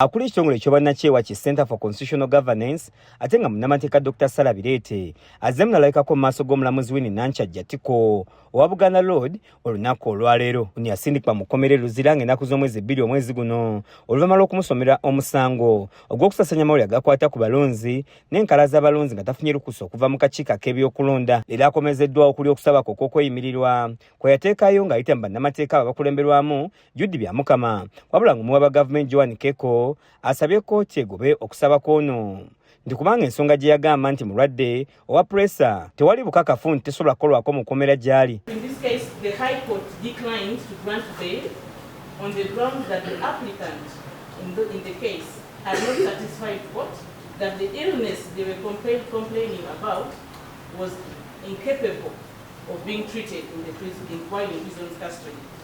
Akuli ekitongole eky'obwannakyewa ki Center for Constitutional Governance ate nga munnamateeka Dr Sala Bireete azze munalabikako mu maaso g'omulamuzi Winnie Nankyajja Tiko owa Buganda Road olunaku olwaleero ni yasindikibwa mu kkomera e Luzira ng'ennaku z'omwezi bbiri omwezi guno oluvannyuma lw'okumusomera omusango ogw'okusasanya amawulire agakwata ku balonzi n'enkala z'abalonzi nga tafunye lukusa okuva mu kakiiko ak'ebyokulonda era akomezeddwa okuli okusaba kwe okw'okweyimirirwa kwe yateekayo ng'ayita mu bannamateeka abo abakulemberwamu Jude Byamukama wabula ng'omuwa ba gavumenti Joan Keko asabye kkooti egobe okusaba kwono nti kubanga ensonga gye yagamba nti mulwadde owa puresa tewali bukakafu nti tesobola kukolwako mu kkomera gy'ali on the ground that the applicant in the, in the case had not satisfied court that the illness they were complain, complaining about was incapable of being treated in the prison, in while in prison custody.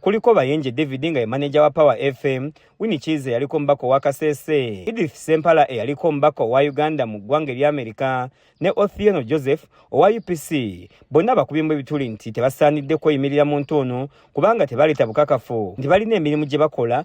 kuliko Bayenje David nga ye maneja wa Power FM, Winnie Kiiza eyaliko omubaka owa Kasese, Edith Sempala eyaliko omubaka owa Uganda mu ggwanga erya Amerika ne Othieno Joseph owa UPC. Bonna bakubyemu ebituli nti tebasaanidde kweyimirira muntu ono kubanga tebaleeta bukakafu nti balina emirimu gye bakola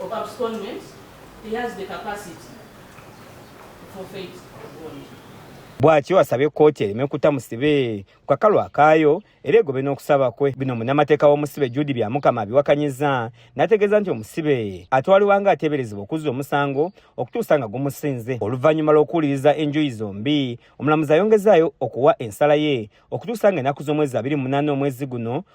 of abscondment he has the capacity to forfeit bond. bwatyo asabye kkooti ereme kutta musibe ku kakalu akaayo era egobe n'okusaba kwe bino munnamateeka w'omusibe judi byamukama abiwakanyiza n'ategeeza nti omusibe atwalibwa nga ateeberezebwa okuzza omusango okutuusa nga gumusinze oluvannyuma lw'okuwuliriza enjuyi zombi omulamuzi ayongezaayo okuwa ensala ye okutuusa nga ennaku z'omwezi abiri munaana omwezi guno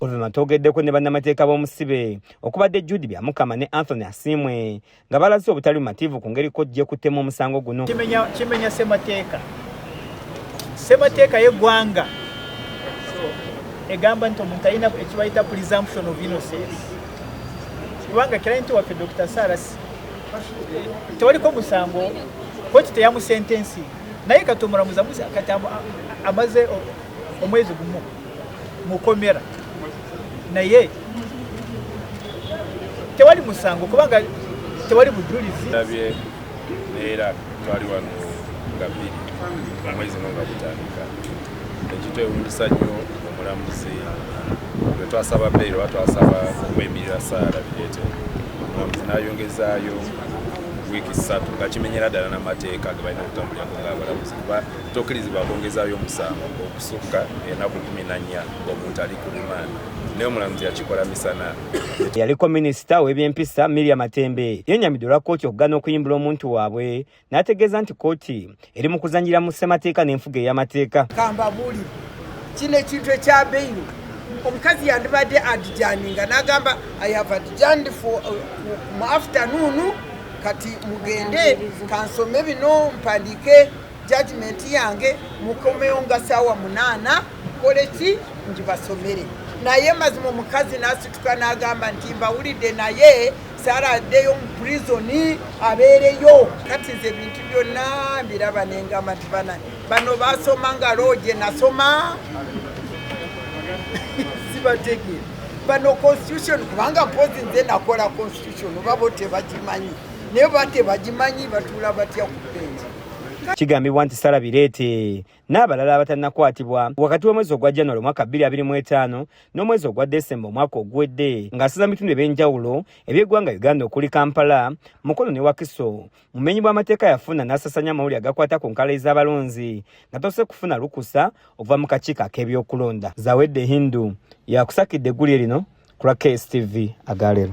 Oluvannyuma twogeddeko ne bannamateeka b'omusibe okubadde Jude Byamukama ne Anthony Asiimwe nga balaze obutali bumativu ku ngeri kojja ekuttemu omusango guno. Kimenya ssemateeka ssemateeka y'eggwanga egamba nti omuntu alina ekibayita presumption of innocence kubanga kirayinti waffe Dr. Sarasi tewaliko musango koti teyamusentensi naye kati omulamuzi amusa kati amaze omwezi gumu mukomera naye tewali musango kubanga tewali bujulizi nabye neera twali wano nga bbiri omwezi no nga gutandika Tekitewuunyisa nnyo omulamuzi bwe twasaba bbeeri oba twasaba okwemirira saala bireete omulamuzi n'ayongezaayo wiiki ssatu nga kimenyera ddala n'amateeka ge balina okutambulirako ng'abalamuzi kuba tokkirizibwa kwongezaayo omusango okusukka enaku kumi na nnya omuntu ali ku limanda naye omulamuzi yakikola misana eyaliko minisita w'ebyempisa miria matembe yenyamidde olwa kkooti okugana okuyimbula omuntu waabwe n'ategeeza nti kkooti eri mu kuzanyira mu ssemateeka n'enfuga ey'amateeka kambabuli kino ekintu ekya beyiro omukazi yandibadde adijaninga n'agamba ayava adijandi uh, mu afternoon kati mugende kansome bino mpandiike jajimenti yange mukomewo nga saawa munaana koleki ngibasomere naye mazima omukazi n'asituka n'agamba nti mbawulidde naye sara addeyo mu purizoni abeereyo kati nze ebintu byonna mbiraba nengamba nti bana bano basoma nga looje nasoma sibategeera bano constitution kubanga mpozi nze nakola constitution oba bo tebagimanyi naye ba tebagimanyi batuula batya ku benji kigambibwa nti sara bireete n'abalala abatannakwatibwa wakati w'omwezi ogwa january omwaka 2025 n'omwezi ogwa desemba omwaka oguwedde ng'asiza mu bitundu eby'enjawulo eby'eggwanga uganda okuli kampala mukono ne wakiso mumenyi bw'amateeka yafuna n'asasanya amawulire agakwata ku nkala ez'abalonzi nga tose kufuna lukusa okuva mu kakiiko ak'ebyokulonda zawedde hindu yakusakidde eggulire lino ku lwa kstv agaleero